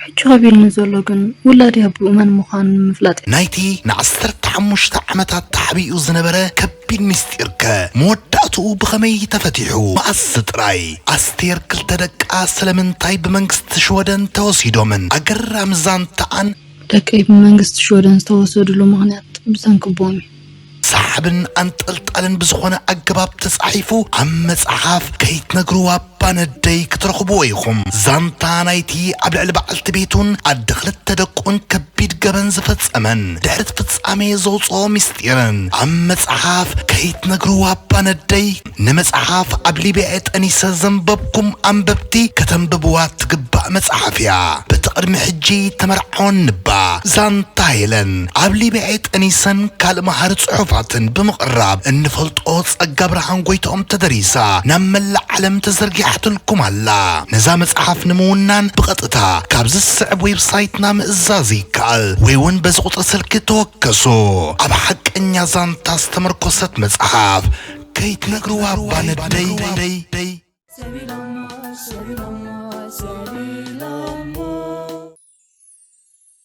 ሕጂ ከቢድኒ ዘሎ ግን ውላድይ ኣቡኡ መን ምዃኑ ንምፍላጥ እዩ። ናይቲ ንዓሰርተ ሓሙሽተ ዓመታት ተዓቢኡ ዝነበረ ከቢድ ቢግ ሚስጢር ከ መወዳእትኡ ብኸመይ ተፈቲሑ? መኣስ ጥራይ? ኣስቴር ክልተ ደቃ ስለምንታይ ብመንግስቲ ሽወደን ተወሲዶምን? ኣገራሚ ዛንታኣን። ደቀይ ብመንግስቲ ሽወደን ዝተወሰድሉ ምኽንያት ብሰንኪ ቦምብ እዩ። ሰሓብን ኣንጠልጣልን ብዝኾነ ኣገባብ ተጻሒፉ ኣብ መጽሓፍ ከይትነግርዋ! እባ ነደይ ክትረኽብዎ ኢኹም ዛንታ ናይቲ ኣብ ልዕሊ በዓልቲ ቤቱን ኣደ ክልተ ደቁን ከቢድ ገበን ዝፈጸመን ድሕሪቲ ፍጻሜ ዘውጽኦ ምስጢርን ኣብ መጽሓፍ ከይትነግርዋ እባ ነደይ ንመጽሓፍ ኣብ ሊብያ እየ ጠኒሰ ዘንበብኩም ኣንበብቲ ከተንብብዋ እትግባእ መጽሓፍ እያ በቲ ቅድሚ ሕጂ ተመርዓወን እንባ ዛንታ ሄለን ኣብ ሊብያ እየ ጠኒሰን ካልእ መሃሪ ጽሑፋትን ብምቕራብ እንፈልጦ ጸጋ ብርሃን ጎይትኦም ተደሪሳ ናብ መላእ ዓለም ተዘርጊሓትልኩም ኣላ። ነዛ መጽሓፍ ንምውናን ብቐጥታ ካብዚ ዝስዕብ ዌብሳይትና ምእዛዝ ይከኣል ወይ ውን በዚ ቁጽሪ ስልኪ ተወከሱ። ኣብ ሓቀኛ ዛንታ ዝተመርኮሰት መጽሓፍ ከይትነግርዋ እባ ነደይ። ሰቢሎሞ ሰቢሎሞ ሰቢሎሞ።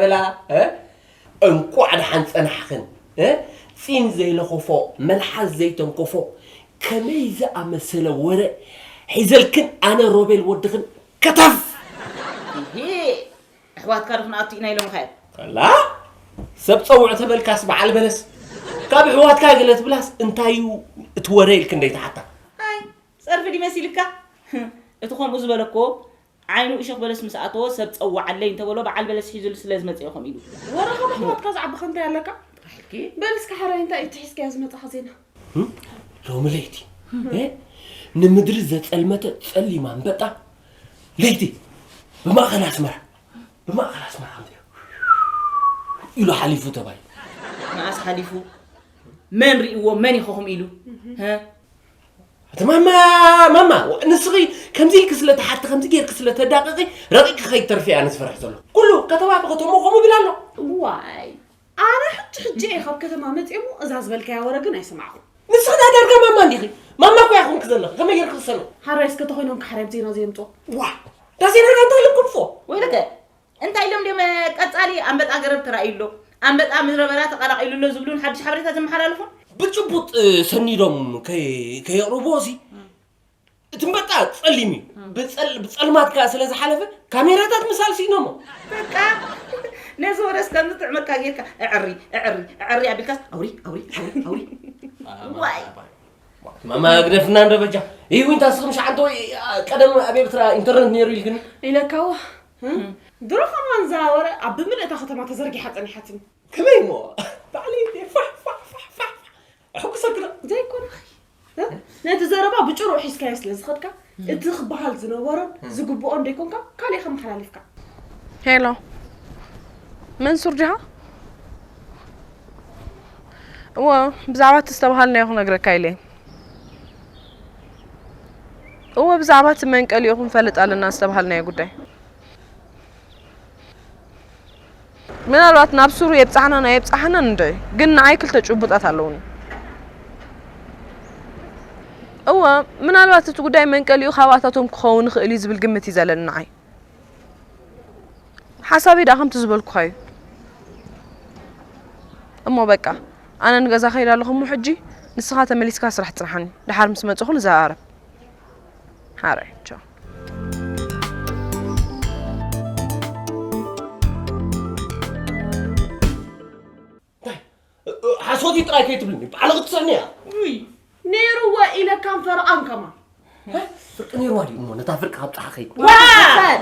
ብላ እንቋዕ ደሓን ጸናሕኽን ጺም ዘይለኾፎ መልሓስ ዘይተንኮፎ ከመይ ዝኣመሰለ ወረ ሒዘልክን ኣነ ሮቤል ወድኽን ከተፍ ኣሕዋትካ ዶ ክንኣቱ ኢና ኢሎምኻ እዮም ከላ ሰብ ጸውዕ ተበልካስ በዓል በለስ ካብ ኣሕዋትካ ገለ ትብላስ እንታይ እዩ እቲ ወረ ኢልክን ደይትሓታ ኣይ ጸርፊ ድዩ መሲልካ እቲ ከምኡ ዝበለኮ ዓይኑ እሾኽ በለስ ምስ ኣተዎ ሰብ ጸውዓለይ እንተበሎ በዓል በለስ ሒዙሉ ስለ ዝመጸ እዩ ከምኡ ኢሉ። ወረኻ ብሕሞትካ ዝዓበኻ እንታይ ኣለካ? ጥራሕልኪ። በል እስከ ሓራይ እንታይ እቲ ሒዝካዮ ዝመጻኻ ዜና? ሎሚ ለይቲ ንምድሪ ዘጸልመተ ጸሊም ኣንበጣ ለይቲ ብማእኸል ኣስመራ ብማእኸል ኣስመራ ከምዚ ኢሉ ሓሊፉ ተባሂሉ። መኣስ ሓሊፉ? መን ርእይዎ? መን ይኸኹም ኢሉ? እቲ ማማ ማማ ንስኺ ከምዚ ኢልኪ ስለ ተሓቲ ከምዚ ጌርኪ ስለ ተዳቕቒ ረቂቕኪ ከይትተርፊ ኣነ ዝፈርሕ ዘሎ ኩሉ ከተማ ብኸተሞ ከምኡ ይብል ኣሎ ዋይ ኣነ ሕጂ ሕጂ እየ ካብ ከተማ መፅኦ እሞ እዛ ዝበልካያ ወረ ግን ኣይሰማዕኹም ንስኺ ናይ ዳርጋ ማማ እንዲኺ ማማ እኮ ያኹምኪ ዘለኺ ከመይ ጌርኪ ክሰምዕ ሓራይ እስከ ተኾይኖም ክሓራይ ብዜና ዘየምፅኦ ዋ ዳዜና ዳንታ ልኩልፎ ወይ ደገ እንታይ ኢሎም ድዮም ቀጻሊ ኣንበጣ ገረብ ተራእዩ ኣሎ፣ ኣንበጣ ምድረበዳ ተቐላቒሉ ኣሎ ዝብሉን ሓድሽ ሓበሬታ ዘመሓላልፉን? ብጭቡጥ ሰኒዶም ከየቕርብዎሲ፣ እቲ ኣንበጣ ጸሊም እዩ፣ ብጸልማት ከኣ ስለ ዝሓለፈ ካሜራታት ምሳል ስኢኖሞ። በቃ ነዚ ወረስ ከም ዝጥዕመካ ጌርካ እዕሪ እዕሪ እዕሪ ኣቢልካስ ኣውሪ ኣውሪ ኣውሪ ኣውሪ ዋይ ማማ ግደፍና እንደበጃ ይዊንታ ስኽም ሸዓንተ ወይ ቀደም ኣብ ኤርትራ ኢንተርነት ነይሩ ኢልክኒ ኢለካዎ ድሮ ከማን እዛ ወረ ኣብ ብምልእ እታ ከተማ ተዘርጊሓ ጸኒሓትኒ። ከመይ እሞ ባዕለይ እንድየ ፋሕ ፋሕ ፋሕ ፋሕ እሕጉሰኪ ዶ ዘይኮነኺ ነቲ ዘረባ ብጭሩኡ ሒዝካዮ ስለ ዝኸድካ እቲ ክበሃል ዝነበሮን ዝግብኦን ደይኮንካ ካልእ ኢኻ መሓላሊፍካ። ሄሎ መንሱር ዲኻ? እዎ ብዛዕባ እቲ ዝተበሃልናዮ ክነግረካ ኢለ እወ ብዛዕባ እቲ መንቀሊኡ ክንፈልጥ ኣለና ዝተባሃልናዮ ጉዳይ ምናልባት ናብ ሱሩ የብፃሕናን ኣየብፃሕናን እንዶይ ግን ንዓይ ክልተ ጭቡጣት ኣለውኒ እወ ምናልባት እቲ ጉዳይ መንቀሊኡ ካብኣታቶም ክኸውን ይኽእል እዩ ዝብል ግምት እዩ ዘለኒ ንዓይ ሓሳበይ ደኣ ከምቲ ዝበልኩኻ እዩ እሞ በቃ ኣነ ንገዛ ከይድ ኣለኹ እሞ ሕጂ ንስኻ ተመሊስካ ስራሕ ፅናሓኒ ደሓር ምስ መፅኹ ንዘራረብ ሓራይ ቻው ሓሶት እዩ ጥራይ ከይትብልኒ ባዕሉ ክትስዕኒ እያ ነይሩዎ ኢለ ካም ፈርቓን ከማ ፍርቂ ነይሩዋ ድዩ እሞ ነታ ፍርቂ ካብ ጫሓ ከይድ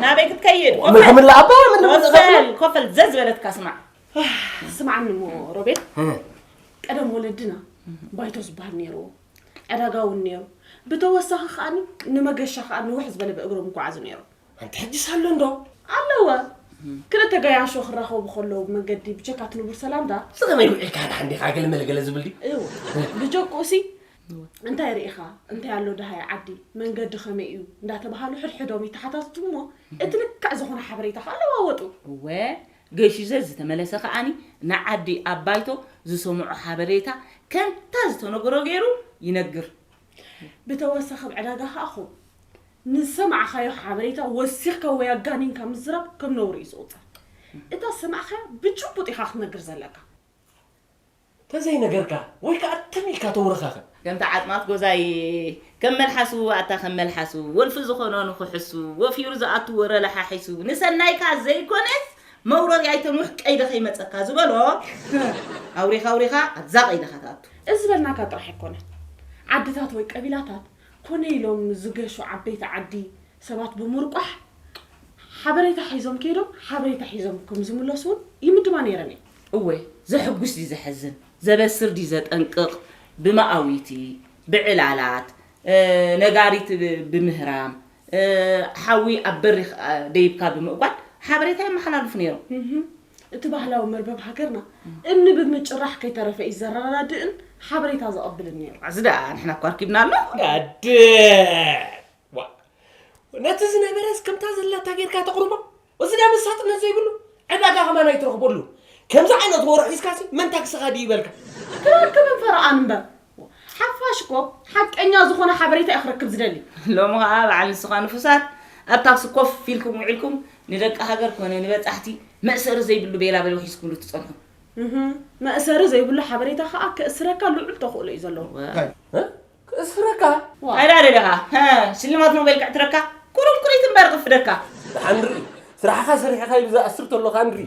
ናበይ ክትከይድ ምን ከምላ ኣባ ወሰል ኮፈል ዘዝ በለትካ ስማዕ ስማዕኒ እሞ ሮቤል ቀደም ወለድና ባይቶ ዝበሃል ነይሩዎ ዕዳጋ እውን ነይሩ ብተወሳኺ ከዓኒ ንመገሻ ከዓ ንውሕ ዝበለ ብእግሮም ይጓዓዙ ነይሮም ኣንቲ ሕጂስ ኣሎ እንዶ? ኣለወ ክልተ ገያሾ ክራኸቡ ከለዉ ብመንገዲ ብቸካት ንቡር ሰላምታ ዝኸመይ ውዒልካ ድሓን ዲኻ ገለ መለ ገለ ዝብል ድዩ? እወ ብጀክኡሲ እንታይ ርኢኻ እንታይ ኣሎ ደሃይ ዓዲ መንገዲ ከመይ እዩ እንዳተባሃሉ ሕድሕዶም ይተሓታትቱ እሞ እቲ ልክዕ ዝኾነ ሓበሬታ ከኣ ለዋወጡ። እወ ገሺዘ ዝተመለሰ ከኣኒ ንዓዲ ኣብ ባይቶ ዝሰምዖ ሓበሬታ ከምታ ዝተነገሮ ገይሩ ይነግር ብተወሳኺ ኣብ ዕዳጋ ከኣ ኹብ ንዝሰማዕኻዮ ሓበሬታ ወሲኽካ ወይ ኣጋኒንካ ምዝራብ ከም ነውሪ እዩ ዝቑጸር። እታ ዝሰማዕካያ ብጭቡጥ ኢኻ ክትነግር ዘለካ። ተዘይነገርካ ወይ ከኣ ትም ኢልካ ተውረኻኸ። ከምቲ ዓጽማት ጎዛይ ከም መልሓሱ ኣታ ከም መልሓሱ ወልፊ ዝኾኖ ንኽሕሱ ወፊሩ ዝኣቱ ወረ ለሓሒሱ ንሰናይካ ዘይኮነስ መውረሪ ኣይተንውሕ ቀይዲ ከይመጸካ ዝበሎ ኣውሪኻ ኣውሪኻ ኣብዛ ቀይዲኻ ትኣቱ። እዚ ዝበልናካ ጥራሕ ኣይኮነን። ዓድታት ወይ ቀቢላታት ኮነ ኢሎም ዝገሹ ዓበይቲ ዓዲ ሰባት ብምርቋሕ ሓበሬታ ሒዞም ከይዶም ሓበሬታ ሒዞም ከም ዝምለሱ እውን ይምድባ ነይረን እየን። እወ ዘሕጉስ ድዩ ዘሕዝን፣ ዘበስር ድዩ ዘጠንቅቕ ብመኣዊቲ፣ ብዕላላት፣ ነጋሪት ብምህራም፣ ሓዊ ኣብ በሪኽ ደይብካ ብምእጓድ ሓበሬታ የመሓላልፉ ነይሮም። እቲ ባህላዊ መርበብ ሃገርና እምኒ ብምጭራሕ ከይተረፈ እዩ ዘረዳድእን ሓበሬታ ዘቐብልን ነይሩ። ኣዚ ደኣ ንሕና እኳ ኣርኪብናሎ። ኣደ ዋእ ነቲ ዝነበረስ ከምታ ዘላታ ጌርካ ተቕርቦ እዚ ናይ መሳጥነት ዘይብሉ ዕዳጋ ከማን ኣይትረኽበሉ ከምዚ ዓይነት ወረ ሒዝካሲ መን ታክስኻ ድዩ ይበልካ። ክረክብን ፈረቓን እምበር ሓፋሽ እኮ ሓቀኛ ዝኾነ ሓበሬታ እዩ ክረክብ ዝደሊ። ሎሚ ኸኣ በዓል ንስኻ ንፉሳት ኣብ ታክሲ ኮፍ ኢልኩም ውዒልኩም ንደቂ ሃገር ኮነ ንበጻሕቲ መእሰሪ ዘይብሉ ቤላበሎ ሒዝኩምሉ ትጸንሑ። እህ መእሰሪ ዘይብሉ ሓበሬታ ኸኣ ከእስረካ ልዑል ተኽእሎ እዩ ዘለዎ። ክእስረካ ኣዳለ ደኻ ሽልማት ኖቤል ክዕትረካ ቁሩብ ቁሪት እምበር ክፍደካ ደሓን ንርኢ ስራሕኻ ሰሪሕኻ ኢሉ ዝኣስር ተሎ ኸኣ ንርኢ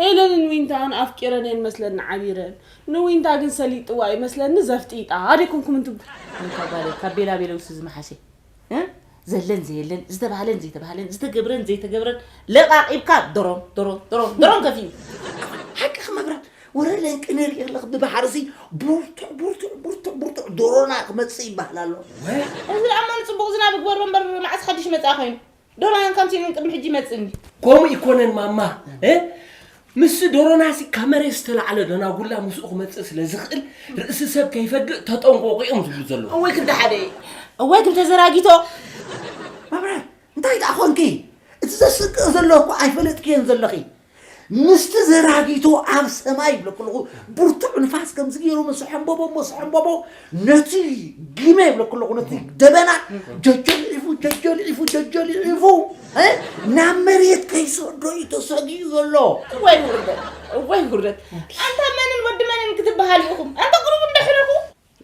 ሄለንን ዊንታን ኣፍቂረን እየን መስለኒ ዓቢረን ንዊንታ ግን ሰሊጥዋ እዩ መስለኒ ዘፍጢጣ ደይኮንኩምን ትብሉ። ኣንታ ጓለይ ካብ ቤላ ቤለውሲ ዝመሓሸ እ ዘለን ዘየለን ዝተባህለን ዘይተባህለን ዝተገብረን ዘይተገብረን ለቓቒብካ ደሮም ደሮም ደሮም ደሮም ከፊኡ ሓቅኺ መብራት ወረ ለንቂ ንርኢ ኣለኽ ብባሕርሲ ቡርቱዕ ቡርቱዕ ቡርቱዕ ቡርቱዕ ዶሮና ክመፅእ ይበሃል ኣሎ እዚ ኣማን ፅቡቕ ዝናብ ግበሮ እምበር መዓስ ሓድሽ መፅኣ ኮይኑ ዶራያን ከምሲ ኢሉን ቅድሚ ሕጂ ይመጽእኒ ከምኡ ይኮነን ማማ እ ምስ ዶሮናሲ ካብ መሬት ዝተላዕለ ደናጉላ ምስኡ ክመጽእ ስለ ዝኽእል ርእሲ ሰብ ከይፈግእ ተጠንቆቑ እዮም ዝብሉ ዘለዉ እወይ ክንዲ ሓደ እዩ እወይ ክንዲ ተዘራጊቶ መብረ እንታይ ደኣ ኮንኪ እቲ ዘስቅቕ ዘሎ እኮ ኣይፈለጥክዮን ዘለኺ ምስቲ ዘራጊቶ ኣብ ሰማይ ይብለኩ ኣለኹ ብርቱዕ ንፋስ ከምዚ ገይሩ ምስ ሕምበቦ ምስ ሕምበቦ ነቲ ግመ ይብለኩ ኣለኹ ነቲ ደበና ጀጀልዒፉ ጀጀልዒፉ ጀጀልዒፉ ናብ መሬት ከይሰዶ እዩ ተሰጊኡ ዘሎ እዋይ ውርደት እዋይ ውርደት ኣንታ መንን ወዲ መንን ክትበሃሉ ኢኹም ኣንታ ቅሩብ እንዳሕረኹ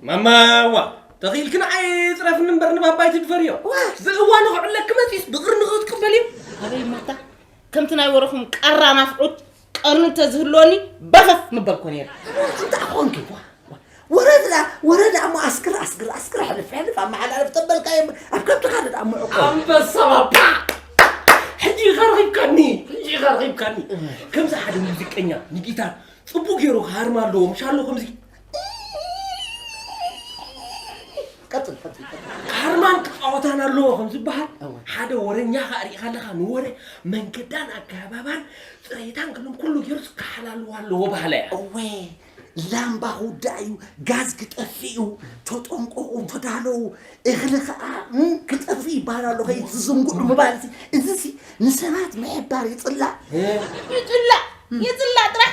ማማዋ ተኺኢልኪ ንዓይ ፅረፍኒ እምበር ንባባ ኣይትድፈርዮ ብእዋኑ ክዕለኪ መፂኡስ ብቕሪ ንኽትቅበልዮ ኣበይ ሞታ ከምቲ ናይ ወረኹም ቀራ ናፍዑት ቀርኒ እንተዝህልወኒ በፈፍ ምበልኮ ነይረ እንታይ ኮንኪ ወረዳ ወረዳ እሞ ኣስክር ኣስክር ኣስክር ሕልፍ ሕልፍ ኣመሓላልፍ ተበልካ እዮም ኣብ ከብትኻ ንዳ ምዕቆ ኣንበሳ ባባ ሕጂ ኢኻ ረኺብካኒ ሕጂ ኢኻ ረኺብካኒ ከምዚ ሓደ ሙዚቀኛ ንጊታር ፅቡቅ ገይሩ ክሃርም ኣለዎ ምሻሎ ከምዚ ቀጥል ቀጥል ቀጥል። ካርማን ክፃወታን ኣለዎ ከም ዝበሃል ሓደ ወረኛ ከዓ ሪኢኻ ኣለኻ ንወረ መንገዳን ኣገባባን ፅሬታን ክልም ኩሉ ገይሩ ክሓላልዎ ኣለዎ ባህለ እያ እወ ላምባ ክውዳእ እዩ ጋዝ ክጠፍእ እዩ ተጠንቀቑ ተዳለዉ እኽሊ ከዓ እም፣ ክጠፍእ ይበሃል ኣሎ ከይትዝንግዑ ምባል እዚ እዚሲ ንሰባት ምሕባር ይፅላእ ይፅላእ ይፅላእ ጥራሕ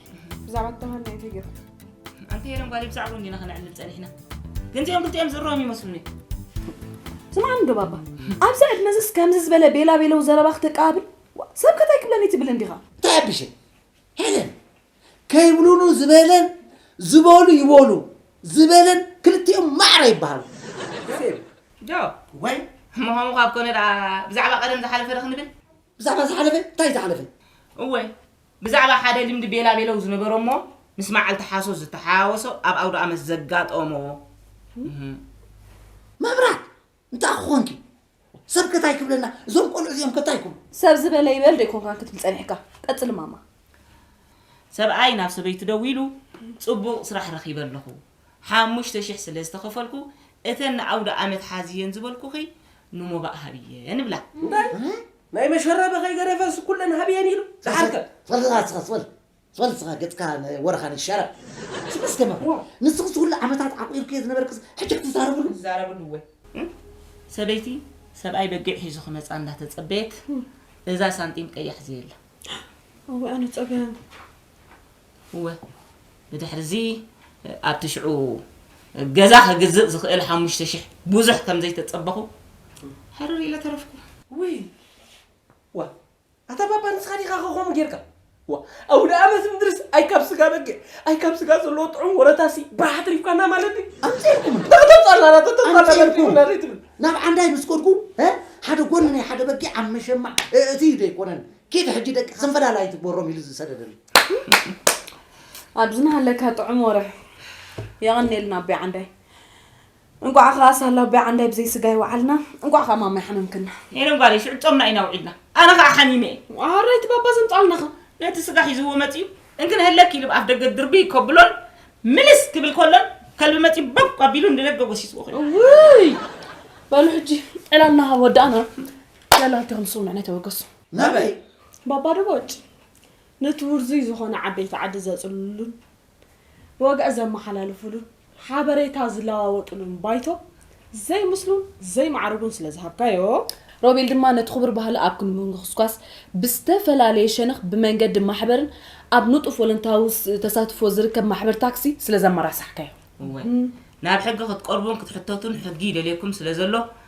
ብዛዕባ ተማሃር ናይ እንታይ ገርካ ኣንቲ የለም ጓል ብዛዕባ እንዲና ከነዕልል ጸኒሕና ግን እዚኦም ክልቲኦም ዝርኦም ይመስሉኒ ስማዕ እንዶ ባባ ኣብዚ ዕድመ እዚስ ከምዚ ዝበለ ቤላ ቤለው ዘረባ ክተቀባብል ሰብ ከታይ ክብለኒ ትብል እንዲኻ እንታይ ኣቢሸ ሄለን ከይብሉኑ ዝበለን ዝበሉ ይበሉ ዝበለን ክልቲኦም ማዕረ ይበሃሉ ዶ ወይ ምዃኑ ካብ ኮነ ደኣ ብዛዕባ ቀደም ዝሓለፈ ዶ ክንብል ብዛዕባ ዝሓለፈ እንታይ ዝሓለፈ እወ ብዛዕባ ሓደ ልምዲ ቤላቤለው ዝነበሮ'ሞ ምስ መዓልቲ ሓሶት ዝተሓዋወሶ ኣብ ኣውደኣመት ዘጋጠሞ እህ። መብራት እንታይ ኮንኪ ሰብ ከ ታይ ክብለና እዞም ቆልዑ እዚኦም ከ ታይ ክብሉ። ሰብ ዝበለ ይበል ዶ ኣይኮንካን ክትብል ጸኒሕካ? ቀጽሊ ማማ። ሰብኣይ ናብ ሰበይቱ ደዊሉ ጽቡቕ ስራሕ ረኺበ ኣለኹ ሓሙሽተ ሽሕ ስለ ዝተኸፈልኩ እተን ንኣውደኣመት ሓዝየን ዝበልኩኺ ንሞባእ ሃብየን እብላ። እንታይ ናይ መሸረበ ከይገደፈስ ኩለን ሃብየን ኢሉ ዝዓርከ። ትፈልጥ ኢኻ ንስኻስ በል ትፈልጥ ኢኻ ገጽካ ናይ ወረኻን እዩ ሸረ። ኣንቺ መስደመም ንስኺስ ኩሉ ዓመታት ዓቊርክዮ ዝነበርክስ ሕጂ ክትዛረብሉ። ክትዛረብሉ እወ ሰበይቲ ሰብኣይ በጊዕ ሒዙ ክመጻ እንዳተጸበየት እዛ ሳንጢም ቀያሕ ዘየላ። እወ ኣነ ጸገም። እወ፣ ብድሕርዚ ኣብቲ ሽዑ ገዛ ክግዝእ ዝኽእል ሓሙሽተ ሽሕ ብዙሕ ከም ዘይተጸበኹ ሕርር ኢለ ተረፍኩ። ውይ! ዋእ! ኣታ ባባ ንስኻ ዲኻ ከ ከምኡ ጌርካ? ዋእ! ኣውደኣመት ምድርስ ኣይ ካብ ስጋ በጊዕ ኣይ ካብ ስጋ ዘለዎ ጥዑም ወረታሲ ባህ ኣትሪፍካና ማለት ድዩ? ኣምጺኤልኩምና! ተጣላና ተጣላና ኣምጺኡልና ዘይትብል። ናብ ዓንዳይ ምስ ከድኩ ሓደ ጎኒ ናይ ሓደ በጊዕ ኣብ መሸማዕ እእትዩ ዶ ኣይኮነን ኪድ ሕጂ ደቂ ጽንበላል ኣይትግበሮም ኢሉ ዝሰደደኒ። ኣብዚ ናሃለካ ጥዑም ወረ የቐኔልና ኣቦይ ዓንዳይ እንቋዕ ኸዓ ሳላ ኣቦይ ዓንዳይ ብዘይ ስጋ ይወዓልና እንቋዕ ኸዓ ማማይ ሓመምክና ኔረ ጓለይ ሽዑ ጾምና ኢና ውዒልና ኣነ ኸዓ ሓሚመ እየ ኣራይቲ ባባ ዘምጻልናኸ ነቲ ስጋ ሒዝዎ መጺኡ እንክን ህለክ ኢሉ ኣብ ደገ ድርብይ ከብሎን ምልስ ክብል ከሎን ከልቢ መጺኡ ቦብ ኣቢሉ ንደገ ጎሲስዎ ኮይኑ ውይ በሉ ሕጂ ዕላልና ሃብ ወዳእና ዕላልቲኹም ስውንዕ ናይ ተበገሱ ናበይ ባባ ደቦጭ ነቲ ውርዙይ ዝኾነ ዓበይቲ ዓዲ ዘጽልሉሉን ብወግዒ ዘመሓላልፉሉን ሓበሬታ ዝለዋወጡሉን ባይቶ ዘይምስሉን ዘይማዕርጉን ስለ ዝሃብካዮ፣ ሮቤል ድማ ነቲ ክቡር ባህሊ ኣብ ምንኩስኳስ ብዝተፈላለየ ሸነኽ ብመንገዲ ማሕበርን ኣብ ንጡፍ ወለንታዊ ተሳትፎ ዝርከብ ማሕበር ታክሲ ስለ ዘመራሳሕካዮ። እወ፣ ናብ ሕጊ ክትቀርቡን ክትሕተቱን ሕጊ ይደልየኩም ስለ ዘሎ፣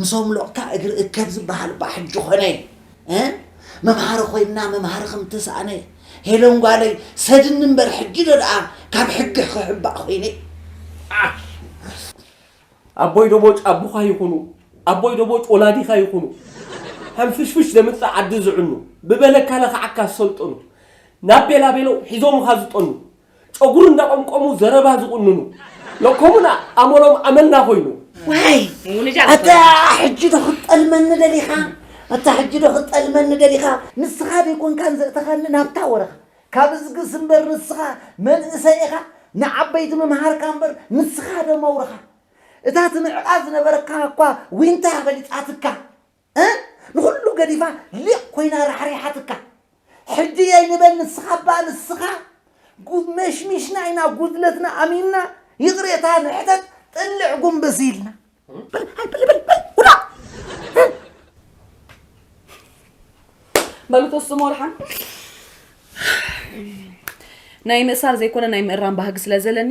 ምሶም ሎቕታ እግሪ እከብ ዝበሃል እባ ሕጂ ኮነ እ መምሃሪ ኮይና መምሃሪ ከም ተሳእነ ሄለን ጓለይ ሰድኒ እምበር ሕጂ ዶ ደኣ ካብ ሕጊ ክሕባእ ኮይነ ዓሕ ኣቦይ ዶቦጭ ኣቦኻ ይኹኑ ኣቦይ ዶቦጭ ወላዲኻ ይኹኑ ሐንፍሽፍሽ ዘምጽእ ዓዲ ዝዕኑ ብበለካ ለኽዓካ ዝሰልጠኑ ናብ ቤላቤለው ሒዞምኻ ዝጠኑ ጨጉሪ እንዳቆምቆሙ ዘረባ ዝቁንኑ ሎኮሙና ኣመሎም ኣመና ኮይኑ። ዋይ ኣታ ሕጂ ዶ ክትጠልመኒ ደሊኻ ኣታ ሕጂ ዶ ክትጠልመኒ ደሊኻ ንስኻ ደይኮንካን ዘእተኻኒ ናብታ ወረኻ ካብ እዝግስ እምበር ንስኻ መንእሰይ ኢኻ ንዓበይቲ ምምሃርካ እምበር ንስኻ ዶ መውርኻ እታ ትምዕቃ ዝነበረካ እኳ ዊንታ በሊጻትካ እ ንኹሉ ገዲፋ ሊቕ ኮይና ራሕሪሓትካ ሕጂ የይ ንበል ንስኻ እባ ንስኻ ጉድ መሽሚሽና ኢና ጉድለትና ኣሚንና ይቕሬታ ንሕተት ጥልዕ ጉንብስ ኢልና በል ሃይ በል በል በል ውላ በሉ ተስሙ ወልሓን ናይ ምእሳር ዘይኮነ ናይ ምእራም ባህጊ ስለ ዘለኒ